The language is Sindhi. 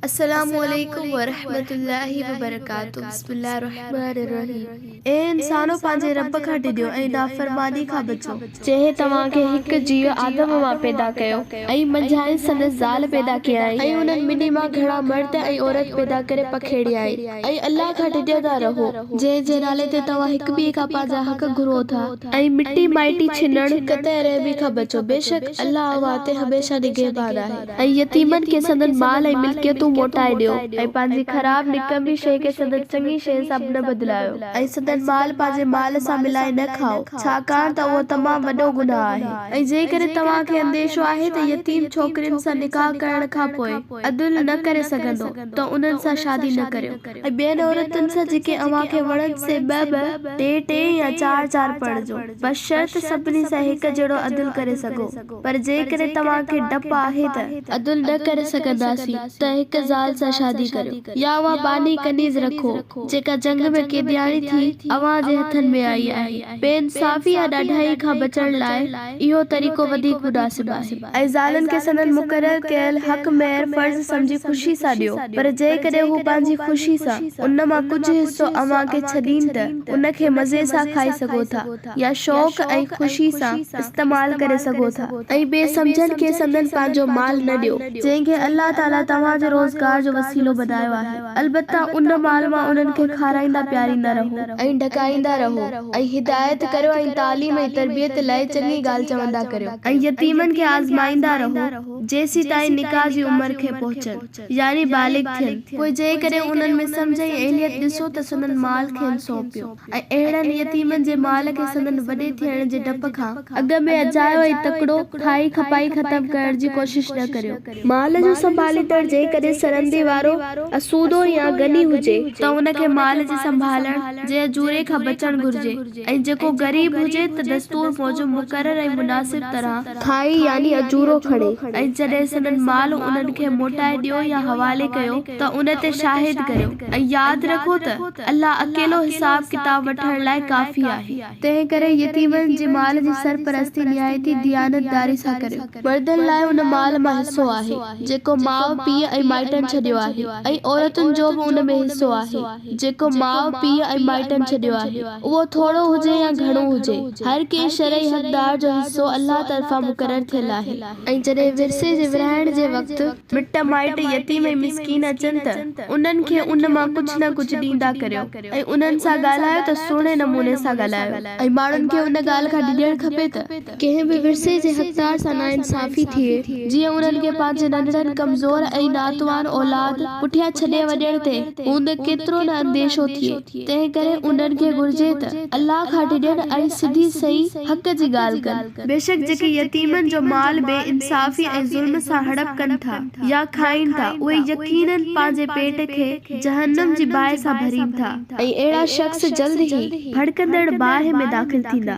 السلام عليڪم ورحمة الله وبرڪاته بسم الله الرحمٰن الرحيم اي انسانو پنهنجي رب کان ڊڄو ۽ نافرماني کان بچو. جنهن توهان کي هڪ جيء آدم مان پيدا ڪيو ۽ منجهانئس سندس زال پيدا ڪيائين ۽ انهن ٻنهي مان گهڻا مرد ۽ عورت پيدا ڪري پکيڙيائين ۽ الله کان ڊڄندا رهو. جنهن جي نالي تي توهان هڪ ٻئي کان پنهنجا حق گهرو ٿا. ۽ مٽي مائٽي ڇنڻ قطعي رحمي کان بچو، بيشڪ الله اوهان تي هميشه نگهبان آهي. ۽ يتيمن کي سندن مال ۽ ملڪيتون موٽائي ڏيو. ۽ پنهنجي خراب، نڪمي، شيء کي سندن چڱي شيء سان نه بدلايو. ۽ سندن مال پنهنجي مال سان ملائي نه کائو، ڇاڪاڻ ته اهو تمام وڏو گناهه آهي. ۽ جيڪڏهن توهان کي انديشو آهي ته يتيم ڇوڪرين سان نڪاح ڪرڻ کان پوء عدل نه ڪري سگهندو ته انهن سان شادي نه ڪريو. ۽ ٻين عورتن سان جيڪي اوهان کي وڻن سي ٻه ٻه، ٽي ٽي يا چار چار پڙهجو، بشرط سڀني سان هڪ جهڙو عدل ڪري سگهو. پر جيڪڏهن توهان کي ڊپ آهي ته. عدل نه ڪري سگهنداسين ته هڪ زال سان شادي ڪريو يا اها ٻانهي ڪنيز رکو جيڪا جنگ ۾ قيدياڻي ٿي اوهان جي هٿن ۾ آئي آهي. بي انصافي يا ڏاڍائي کان بچڻ لاء. اهو طريقو وڌيڪ مناسب آهي. ۽ زالن کي سندن مقرر ڪيل حق مهر فرض سمجهي خوشي سان ڏيو، پر جيڪڏهن هو پنهنجي خوشي سان ان مان ڪجهه حصو اوهان کي ڇڏين ته ان کي مزي سان کائي سگهو ٿا يا شوق ۽ خوشي سان استعمال ڪري سگهو ٿا. ۽ بي سمجهن کي سندن پنهنجو مال نه ڏيو، جنهن کي الله تعاليٰ توهان جي روزگار جو وسيلو بنايو آهي. البته ان مال مان انهن کي کارائيندا پياريندا رهو ۽ ڍڪائيندا رهو ۽ هدايت ڪريو ۽ تعليم ۽ تربيت لاء چڱي ڳالهه چوندا ڪريو ۽ يتيمن کي آزمائيندا رهو جيسيتائين نڪاح جي عمر کي پهچن يعني بالغ ٿين پوء جيڪڏهن انهن ۾ سمجهه ۽ اهليت ڏسو ته سندن مال کين سونپيو. ۽ اهڙن يتيمن جي مال کي سندن وڏي ٿيڻ جي ڊپ کان اڳ ۾ اجايو ۽ تڪڙو کائي کپائي ختم ڪرڻ جي ڪوشش نه ڪريو. مال جو سنڀاليندڙ جيڪڏهن سرندي وارو، اسودو يا غني هجي، ته ان کي مال جي سنڀالڻ جي اجوري کان بچڻ گهرجي ۽ جيڪو غريب هجي ته دستور موجب مقرر ۽ مناسب طرح، کائي يعني اجورو کڻي ۽ جڏهن سندن مال انهن کي موٽائي ڏيو يا حوالي ڪيو، ته ان تي شاهد ڪريو ۽ ياد رکو ته الله اڪيلو حساب ڪتاب وٺڻ لاء ڪافي آهي. تنهن ڪري يتيمن جي مال جي سرپرستي نهايتي ديانتداري سان ڪريو. مردن لاء ان مال مان حصو آهي، جيڪو ماء، پيء ۽ مائٽن ڇڏيو آهي ۽ عورتن جو به ان ۾ حصو آهي، جيڪو ماء، پيء ۽ مائٽن ڇڏيو آهي، اهو ٿورو هجي يا گهڻو هجي، هر ڪنهن شرعي حقدار جو حصو الله طرفان مقرر ٿيل آهي. ۽ جڏهن ورثي جي ورهائڻ جي وقت. مٽ مائٽ يتيم ۽ مسڪين اچن ته انهن کي ان مان ڪجهه نه ڪجهه ڏيندا ڪريو ۽ انهن سان ڳالهايو ته سهڻي نموني سان ڳالهايو ۽ ماڻهن کي ان ڳالهه کان ڊڄڻ کپي ته ڪنهن به ورثي جي حقدار سان ناانصافي ٿئي جيئن انهن کي پنهنجي ننڍڙن ڪمزور ۽ ناتوان اولاد پٺيان ڇڏي وڃڻ تي اوندهه ڪيترو نه انديشو ٿئي تنهن ڪري انهن کي گهرجي ته الله کان ڊڄن ۽ سڌي سئي حق جي ڳالهه ڪن. بيشڪ جيڪي يتيمن جو مال بي انصافي ۽ ظلم سان هڙپ ڪن ٿا يا کائين ٿا، اهي يقيناً پنهنجي پيٽ کي جهنم جي باهه سان ڀرين ٿا. ۽ اهڙا شخص جلد ئي ڀڙڪندڙ باهه ۾ داخل ٿيندا.